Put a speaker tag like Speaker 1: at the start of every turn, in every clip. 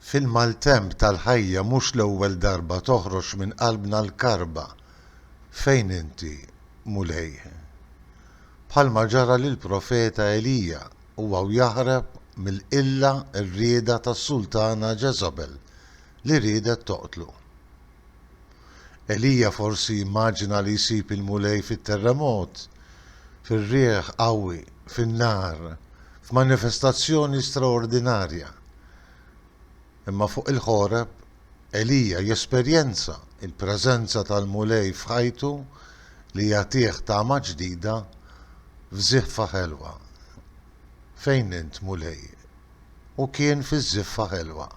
Speaker 1: Fil-maltemp tal-ħajja mhux l-ewwel darba toħroġ minn qalbna l-karba, Fejn inti, Mulej? Bħalma ġara lill-profeta Elija, u hawn jaħrab mill-qilla r-rieda tas-sultana Ġeżabel li riedet toqtlu. Elija forsi jimmaġina li jsib il-Mulej fit-terremot, fir-riħ qawwi, fin-nar, f'manifestazzjoni straordinarja. Imma fuq il-Ħoreb, Elija jesperjenza l-preżenza tal-Mulej f'ħajtu li jagħtih tama ġdida f'żiffa ħelwa. Fejn int, Mulej? Hu kien fiż-żiffa ħelwa.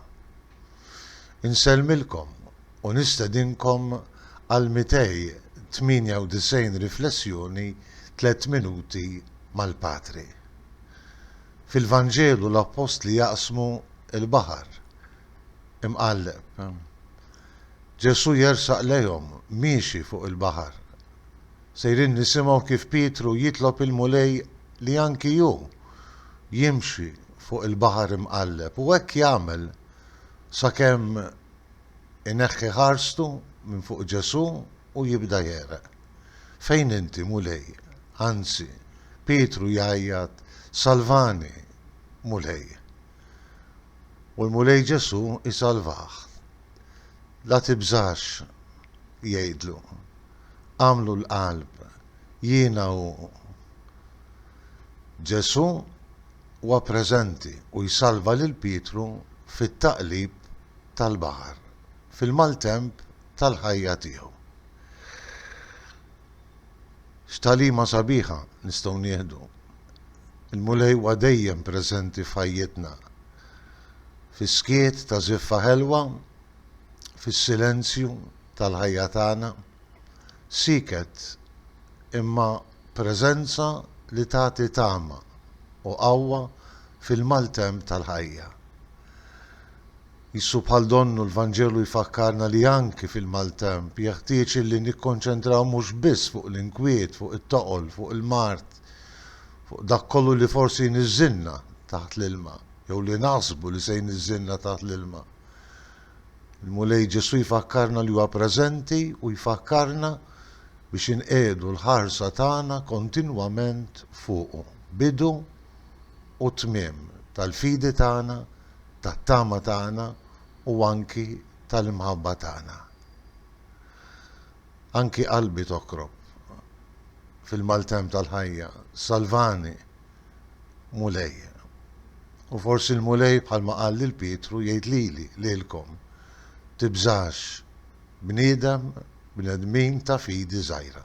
Speaker 1: Insellmilkom u nistedinkom għal 298 riflessjoni Tliet Minuti mal-Patri. Fil-Vanġelu l-Appostli jaqsmu l-baħar imqalleb. Ġesù jersaq lejhom miexi fuq il-baħar. Sejrin nisimgħu kif Pietru jitlob il-Mulej li anki hu jimxi fuq il-baħar imqalleb u hekk jagħmel sakemm ineħħi ħarstu minn fuq Ġesù u jibda jegħreq. Fejn inti, Mulej? Anzi, Pietru jgħajjat, Salvani, Mulej! u l-Mulej Ġesù jsalvah. La tibżax, jgħidlu, agħmlu l-qalb, jiena hu. Ġesù huwa preżenti u jsalva lil Pietru fit-taqlib tal-baħar, fil-maltemp tal-ħajja tiegħu. X'tagħlima sabiħa nistgħu nieħdu! Il-Mulej huwa dejjem preżenti f'ħajjitna, fis-skiet ta' żiffa ħelwa, fis-silenzju tal-ħajja tagħna. Sieket, imma preżenza li tagħti tama u qawwa fil-maltemp tal-ħajja. Qisu bħal donnu l-Vanġelu jfakkarna li anki fil-maltemp jeħtieġ illi nikkonċentraw mhux biss fuq l-inkwiet, fuq it-toqol, fuq il-mard, fuq dak kollu li forsi jniżżilna taħt l-ilma, jew li naħsbu li se jniżżilna taħt l-ilma. Il-Mulej Ġesù jfakkarna li huwa preżenti u jfakkarna biex inqiegħdu l-ħarsa tagħna kontinwament fuqu, bidu u t-tmiem tal-fidi tagħna, tat-tama tagħna u anki tal-imħabba tagħna. Anki qalbi tokrob fil-maltemp tal-ħajja, salvani, Mulej. U forsi l-Mulej bħalma qal lil Pietru jgħid lili, lilkom, Tibżax, bniedem, bnedmin ta' fidi żgħira.